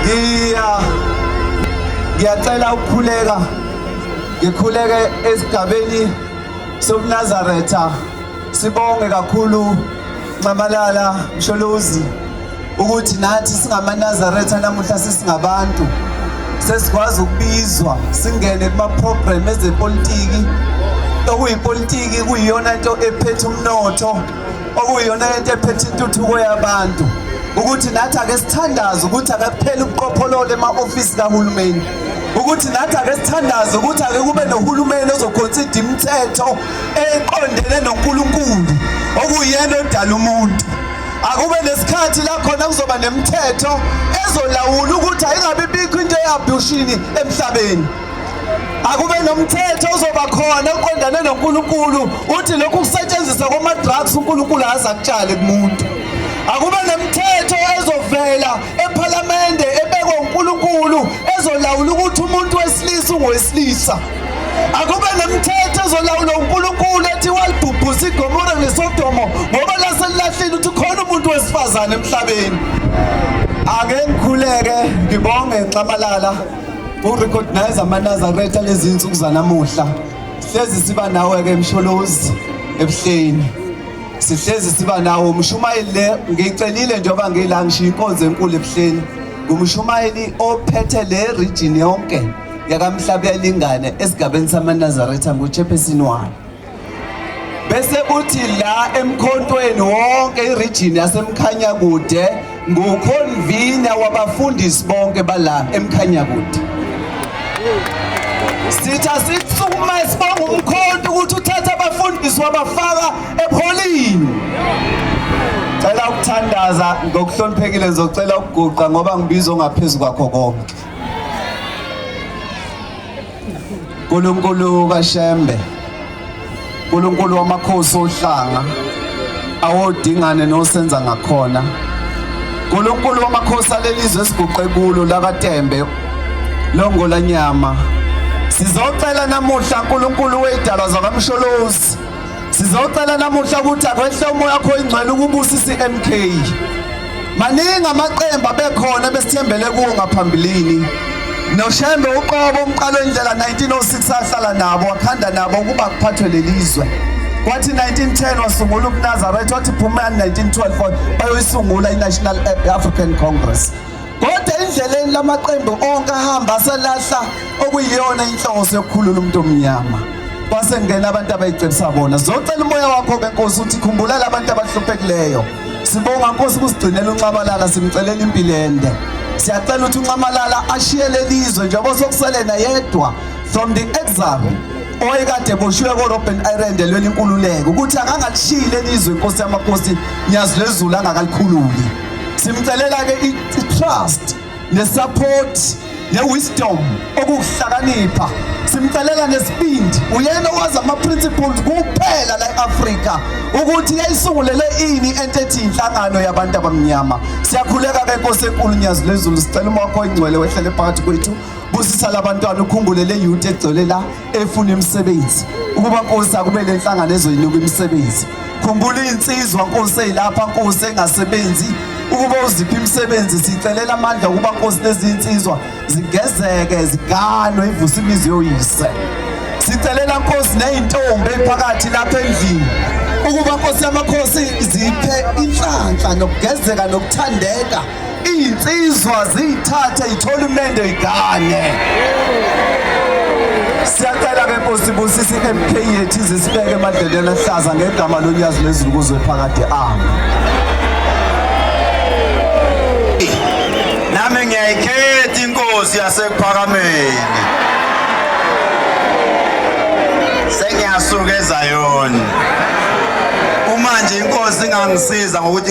ngiya ngiyacela ukukhuleka ngikhuleke esigabeni sobunazaretha sibonge kakhulu nxamalala msholozi ukuthi nathi singamanazaretha namuhla sesingabantu sesikwazi ukubizwa singene kuma-program ezepolitiki okuyipolitiki kuyiyona nto ephethe umnotho okuyiyona into ephethe intuthuko yabantu ukuthi nathi ake sithandaze ukuthi akakupheli ubuqopholola ema-ofisi kahulumeni ukuthi nathi ake sithandaze ukuthi ake kube nohulumeni ozokhonsida imithetho eqondene noNkulunkulu okuyena odala umuntu akube nesikhathi la khona kuzoba nemithetho ezolawula ukuthi ayingabi bikho into eyabhushini emhlabeni akube nomthetho ozoba khona oqondane noNkulunkulu uthi lokhu kusetshenziswa kwama drugs uNkulunkulu aza kutshale kumuntu akube nomthetho ezovela ePhalamende ebekwe uNkulunkulu ezolawula ukuthi umuntu wesilisa ungowesilisa akube nomthetho ezolawula uNkulunkulu ethi walibhubhusa iGomora neSodomo ngoba lase lilahlile ukuthi khona umuntu wesifazane emhlabeni ake ngikhuleke ngibonge nxamalala Urecognize amanazaretha lezi nsuku zanamuhla. Hlezi siba nawe ke Msholozi ebuhleni. Sihlezi siba nawe umshumayeli le ngicelile njengoba ngila ngishiya inkonzo enkulu ebuhleni. Ngumshumayeli ophethe le region yonke yakamhlabelingane esigabeni samanazaretha nguChephesini wayo. bese kuthi la emkhontweni wonke iregion yasemkhanya kude nguconvener wabafundisi bonke bala emkhanya kude sitha sisukuma sibonga umkhonto ukuthi uthatha abafundisi wabafaka epholini cela ukuthandaza ngokuhloniphekile ngizocela ukuguqa ngoba ngibizwa ngaphezulu kwakho konke Nkulunkulu kaShembe Nkulunkulu wamakhosi ohlanga awodingane nosenza ngakhona Nkulunkulu wamakhosi alelizwe esiguqe kulo lakaTembe longola nyama sizocela namuhla Nkulunkulu weidalwa zakamsholozi sizocela namuhla ukuthi akwehle umoya wakho ingcwele ukubusisa iMK maningi amaqembu abekhona besithembele kuwo ngaphambilini noshembe uqobo umqalo indlela 1906 ahlala nabo wakhanda nabo ukuba kuphathwe lelizwe wathi 1910 wasungula ubunazaretha wathi phumani 1912 bayoyisungula i-national african congress kodwa endleleni lamaqembu onke ahamba aselahla okuyiyona inhloso yokukhulula umuntu omnyama kwasengena abantu abayicebisa bona zocela umoya wakho-ke nkosi uthi khumbulela abantu abahluphekileyo Sibonga Nkosi kusigcinela uNxamalala simcelela impilo ende. Siyacela ukuthi uNxamalala ashiye lelizwe njengoba sokuselena yedwa from the exile oyekade boshiwe koRobben Island elweni inkululeko ukuthi akangalishiyi lelizwe inkosi yamakhosi nyazi lezulu angakalikhululi. Simcelela ke i-trust nesupport ne-wisdom okukuhlakanipha simcelela nesibindi uyena owazi ama-principles kuphela la e-afrika ukuthi yayisungulele ini ento ethi inhlangano yabantu abamnyama siyakhuleka ke nkosi enkulu nyazi lwezulu sicela uma wakho ingcwele wehlele phakathi kwethu busisa labantwana ukhumbule le yuti egcwele la efuna imisebenzi ukuba nkosi akube le nhlangano ezoyinika imisebenzi khumbula iy'nsizwa nkosi eyilapha nkosi engasebenzi ukuba uziphi imisebenzi sicelela amandla ukuba nkosi lezi nsizwa zigezeke ziganwe ivuse imizi yoyise sicelela nkosi ney'ntombi ephakathi lapha endlini ukuba nkosi yamakhosi ziphe inhlanhla nokugezeka nokuthandeka Izinsizwa ziyithathe ithole umendo igane. Siyacela ke Nkosi busisi MK yethu izisibeke emadleleni ahlaza ngegama lonyazi lezulu kuzwe phakade ami. Nami ngiyayikhetha inkosi yasekuphakameni. Sengiyasuka eZayoni. Uma nje inkosi ingangisiza ngokuthi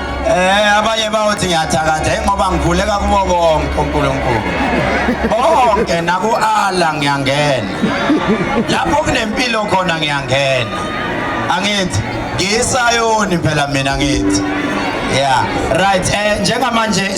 Eh abanye bayothi ngiyathakatha ingoba ngivuleka kubo bonke uNkulunkulu. Bonke naku Allah ngiyangena. Lapho kunempilo khona ngiyangena. Angithi ngisayoni phela mina ngithi. Yeah, right. Eh njengamanje